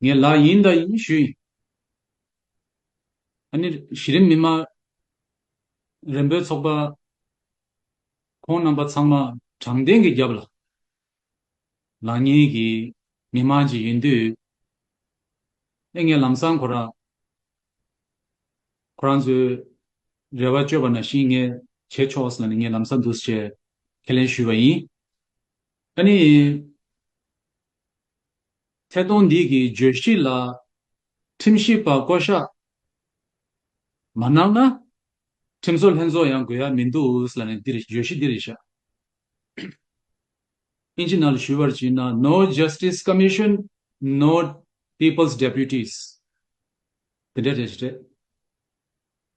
ངའི་ལག་ཡིན་ད་ཡིན་ཞུ་ཡིན། ཨ་ནི་གཞི་རིམ་མི་དམངས་རིམ་པའི་ཚོགས་པ་ཁོང་རྣམ་པ་ཚང་མ་དྲང་བདེན་གྱི་རྒྱབ་ལ་ལག་གཉིས་ཀྱིས་མི་དམངས་ཀྱི་ཡིན་དུས་ཨེ་ངའི་ལམ་སང་ཁོ་རང་ཁོ་རང་ཚོའི་རེ་བ་བཅོལ་བ་ན་ཤིང་ངས་བྱས་ཆོག་ཟེར་ན་ནི་ངའི་ལམ་སང་འདུག་ཅེས་ཁས་ལེན་ཞུས་པ་ཡིན། ཨ་ནི། ཐད་གཏོང་འདི་གི་བརྗོད་གཞི་ལ་ཁྲིམས་ཞིབ་པ་བསྐོ་གཞག་མ་གནང་ན། ཁྲིམས་བཟོ་ལྷན་ཚོགས་ཡང་དགོས་ཡ་མི་འདུག་ཨུས་ལ་ནི་འདིར་བརྗོད་གཞི་འདིར་བཞག་ཨིན་ཇི་ནལ་ཞུ་བར་བྱིན་ན No Justice Commission No People's Deputies དེ་འདྲའི་རེད་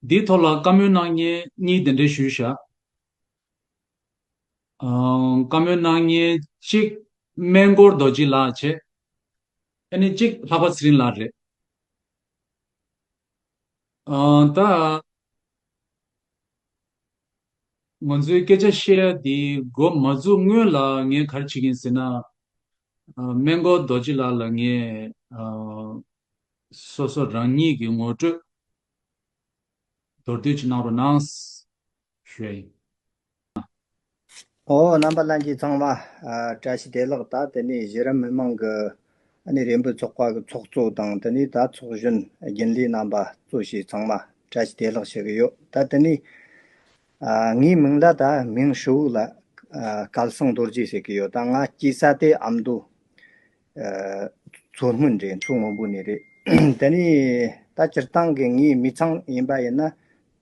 འདིའི་ཐོག་ལ་བཀའ་མོལ་གནང་ཉེན་གཉིས་དེ་འདྲའི་ཞུ་བཞག། བཀའ་མོལ་གནང་ཉིན་གཅིག། སྨན་སྐོར་རྡོ་རྗེ་ལགས་བྱས། ཨ་ནི་གཅིག་ལྷག་པ་ཚེ་རིང་ལགས་རེད། ད། ང་ཚོའི་སྐད་ཆ་བཤད་ཡ་དེ་མགོ་མ་འཛུགས་སྔོན་ལ་ངས་ག་རེ་བྱེད་ཀྱིན་ཟེར་ན། སྨན་སྐོར་རྡོ་རྗེ་ལགས་ལ་ངས། སོ་སོ་རང་ཉིད་ཀྱི་ངོ་སྤྲོད། མདོར་བསྡུས་ཀྱི་གནང་རོགས་གནང། ཧྲཱི། ཨོ་རྣམ་པ་ལྷན་ཅིག་ཚང་བ། བཀྲ་ཤིས་བདེ་ལགས་ད་དེ་ནས་གཞི་རིམ་མི་མང་གི་ནི་རེ་འབོད་ཚོགས་པ་གི་ཚོགས་གཙོ་དང་དེ་ནས་ད་ཚོགས་གཞོན་རྒྱུན་ལས་རྣམ་པ་གཙོ་བྱས་ཚང་མ་བཀྲ་ཤིས་བདེ་ལགས་བྱེད་གི་ཡོད་ད་དེ་ནས་ངའི་མིང་ལ་ད་མིང་ཧྲི་བོ་ལ་སྐལ་བཟང་རྡོ་རྗེ་ཟེར་གི་ཡོད་ད་ང་སྐྱེས་ས་དེ་ཨ་མདོ་མཚོ་སྔོན་རེད་མཚོ་སྔོན་པོ་ནས་རེད། དེ་ནི་ད་སྤྱིར་བཏང་གི་ངའི་མི་ཚང་ཡིན་པ་ཡིན་ན།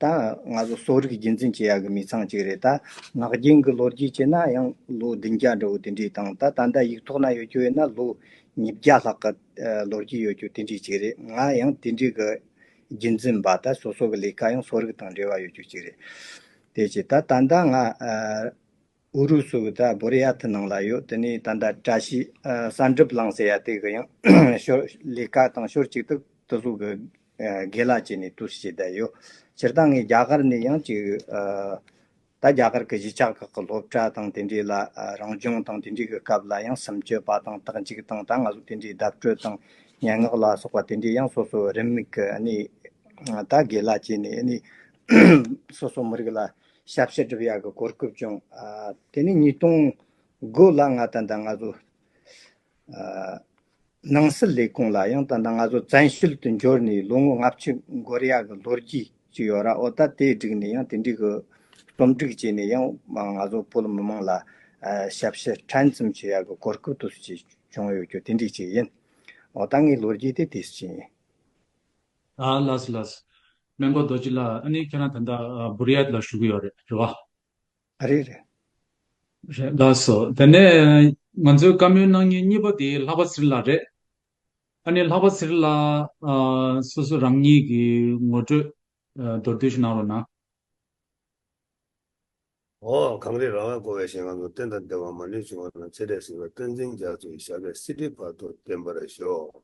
ད་ང་ཚོ་གསོ་རིག་རྒྱུན་འཛིན་བྱེད་ཡག་གི་མི་ཚང་གཅིག་རེད། ད་ངག་རྒྱུན་གྱི་ལོ་རྒྱུས་བྱས་ན་ཡང་ལོ་བདུན་བརྒྱ་འདྲ་བོ་དེ་འདྲའི་དང་ད་ད་ལྟ་ཡིག་ཐོག་ན་ཡོད་རྒྱུ་ཡིན་ན་ལོ་ཉིས་བརྒྱ་ལྷག་གི་ལོ་རྒྱུས་ཡོད་རྒྱུ་དེ་འདྲའི་གཅིག་རེད། ང་ཡང་དེ་འདྲའི་གི་རྒྱུན་འཛིན་པ་ད་སོ་སོ་གི་ལས་ཀ་ཡང་གསོ་རིག་དང་འབྲེལ་བ་ཡོད་རྒྱུ་གཅིག་རེད། དེ་བྱས་ད་ད་ལྟ་ང། ཨུ་རུ་སུ་གི་ད་བོར་ཡ་ཐི་ནང་ལ་ཡོད་དེ་ནས་ད་ད་བཀྲ་ཤིས་གསར་འགྲིབ་བསླངས་ཟེར་ཡ་དེ་གི་ཡང་ཤོར་ལས་ཀ་དང་ཤོར་ཅིག་ཏུ་ཏུ་སུ་གི་དགེ་ལ་བྱས་ནས་བསྟུ་བྱས་བསྡད་ཡོད་སྤྱིར་བཏང་ངས་རྒྱ་གར་ནས་ཡང་ཅིག་ད་རྒྱ་གར་གི་གཞིས་ཆགས་ཁག་གི་སློབ་གྲྭ་དང་དེ་འདྲའི་ལ་རང་སྦྱོང་དང་དེ་འདྲའི་གི་སྐབས་ལ་ཡང་སེམས་སྐྱོ་བ་དང་དག་འཇིགས་དང་ད་ང་ཚོ་དེ་འདྲའི་བརྡབ་སྤྲོད་དང་སྙན་ངག་ལ་སོགས་པ་དེ་འདྲའི་ཡང་སོ་སོ་རེ་མིག་གི་ནས་ད་དགེ་ལ་བྱས་ནས་ནས་སོ་སོ་མི་རིགས་ལ། ཞབས་ཕྱི་སྒྲུབ་ཡག་གི་གོ་སྐབས་བྱུང། དེ་ནས་ཉིས་སྟོང་དགུ་ལ་ང་ཏན་ཏན་ང་ཚོ་ནང་སྲིད་ལས་ཁུངས་ལ་ཡང་ཏན་ཏན་ང་ཚོ་བཙན་ཤེད་དུ་འབྱོར་ནས་ལོ་ངོ་ལྔ་བཅུ་འགོར་ཡག་གི་ལོ་རྒྱུས་ཅིག་ཡོད་ར་འོ་ད་དེ་བསྒྲིགས་ནས་ཡང་དེ་འགྲིག་གི་རྩོམ་སྒྲིག་བྱས་ནས་ཡང་ང་ཚོ་བོད་མི་མང་ལ་ཞབས་ཕྱི་ཕྲན་ཙམ་བྱེད་ཡག་གི་གོ་སྐབས་དུ་ཞིག་བྱུང་ཡོད་རྒྱུ་དེ་འགྲིག་ཅིག་ཡིན། འོ་ད་ངའི་ལོ་རྒྱུས་དེ་དེ་བཞིན་ཡིན། ཨ་ལགས་ལགས། སྨན་པ་རྡོ་རྗེ་ལགས་ཨ་ནི་ཁྱེད་རང་ད་ལྟ་བུ་རི་ཡལ་ལ་བཞུགས་ཀྱི་ཡོད་རེད་རེད་བ། རེད་རེད། རེད་ལགས་སོ་དེ་ནས་ང་ཚོའི་བཀའ་མོལ་གནང་མྱི་གཉིས་པ་དེ་ལྷག་པ་ཟིར་ལགས་རེད། ཨ་ནི་ལྷག་པ་ཟིར་ལགས་སོ་སོ་རང་མྱི་གི་ངོ་སྤྲོད་མདོར་བསྡུས་ཤིག་གནང་རོགས་གནང། འོ་གངས་རི་ར་བས་བསྐོར་བའི་ཞིང་ཁམས་སུ་རྟེན་དང་ལྡན་བ་མ་ལུས་བྱུང་བ་དང་ཚེ་འབྲས་གཟིགས་པའི་སྟོན་འཛིན་རྒྱ་མཚོའི་ཞབས་པད་སྲིད་ཁྲིའི་བར་དུ་བརྟན་པར་ཤོག།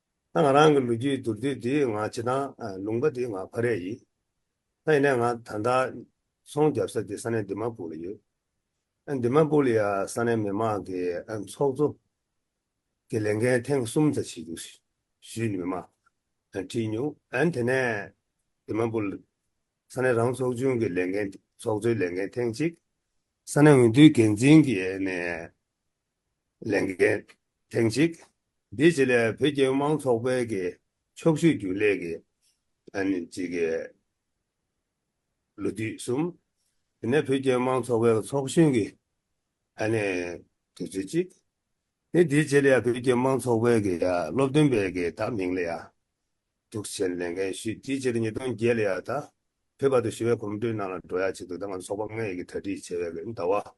ད་ང་རང་གི་ལོ་རྒྱུས་དུར་དུས་འདི་ང་བྱེད་སྟངས་ལུང་པ་འདི་ང་ཕ་རས་ཡིན། ད་ཡིན་ནས་ང་ད་ལྟ་ཚོང་རྒྱབ་ས་དེ་ས་གནས་འདི་མ་པུ་ལ་ཡོད། འདི་མ་པུ་ལ་ཡ་ས་གནས་མི་མང་གི་ཚོགས་གཙོ་གི་ལས་འགན་ཐེངས་གསུམ་ཙ་བྱེད་རྒྱུ་ཞུས་མི་མང་བྲིས་མྱོང། དེ་ནས་འདི་མ་པུ་ལ་ས་གནས་རང་ཚོགས་ཆུང་གི་ལས་འགན་ཚོགས་གཙོའི་ལས་འགན་ཐེངས་གཅིག། ས་གནས་འོས་བསྡུའི་འགན་འཛིན་གྱི་ནས་ལས་འགན་ཐེངས་གཅིག་འདི་ཆེད་ལས་བོད་སྐྱོད་དམངས་ཚོགས་པའི་གི་ཕྱོགས་བཤུས་རྒྱུན་ལས་གི་གཅིག་གི་ལོ་དུས་གསུམ། དེ་ནས་བོད་སྐྱོད་དམངས་ཚོགས་པའི་གི་ཚོགས་གཞོན་གི་དུས་ཚོད་གཅིག། ནི་འདི་ཆེད་ལས་བོད་སྐྱོད་དམངས་ཚོགས་པའི་གི་སློབ་སྟོན་པའི་གི་དག་མིང་ལ་ཡང་དུག་ཆེན་ལས་འགན་བཤུས་དེའི་ཕྱིར་ཉིས་སྟོང་བརྒྱད་ལ་ཡང་ད་བོད་པ་དུ་ཞི་བའི་གོམ་བགྲོད་ནང་ལ་འགྲོ་ཡ་བྱེད་དུ་ད་ང་ཚོ་ཚོགས་པ་ལྔའི་གི་གྲ་སྒྲིག་བྱས་པའི་གི་ཟླ་བ།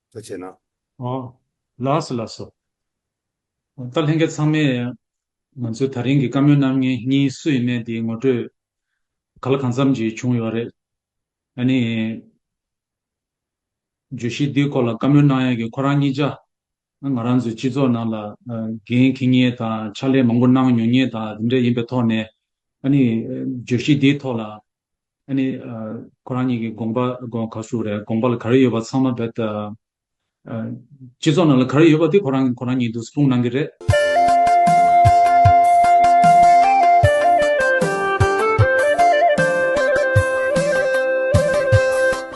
ལྟ་བྱས་ན། ལགས་ལགས་སོ། ད་ལྷན་རྒྱས་ཚང་མས་ང་ཚོའི་ད་རིང་གི་བཀའ་མོལ་གནང་མཁན་གཉིས་སུ་ཡིན་མེད་དེ་ངོ་སྤྲོད་ག་ལ་གང་འཚམས་ཀྱིས་བྱུང་ཡོད་རེད། ཨ་ནི། བརྗོད་གཞི་འདིའི་སྐོར་ལ་བཀའ་མོལ་གནང་ཡ་གི་ཁོ་རང་གཉིས་ཅག་ང་རང་ཚོའི་སྤྱི་ཚོགས་ནང་ལ་འགན་འཁི་ངེས་དང་ཕྱག་ལས་མང་པོ་གནང་མྱོང་ངེས་དང་དེ་འདྲ་ཡིན་པའི་ཐོག་ནས་ཨ་ནི་བརྗོད་གཞི་འདིའི་ཐོག་ལ་ཨ་ནི། ཁོ་རང་ཉིད་ཀྱི་དགོངས་པ་ག་ཚོད་རེད་དགོངས་པ་ལ་ག་རེ་ཡོད་པ་ཚང་མ་རྦད་དེ། སྤྱི་ཚོགས་ནང་ལ་ག་རེ་ཡོད་པ་དེ་ཁོ་རང་ཁོ་རང་ཉིད་དུ་སྤུངས་གནང་གི་རེད།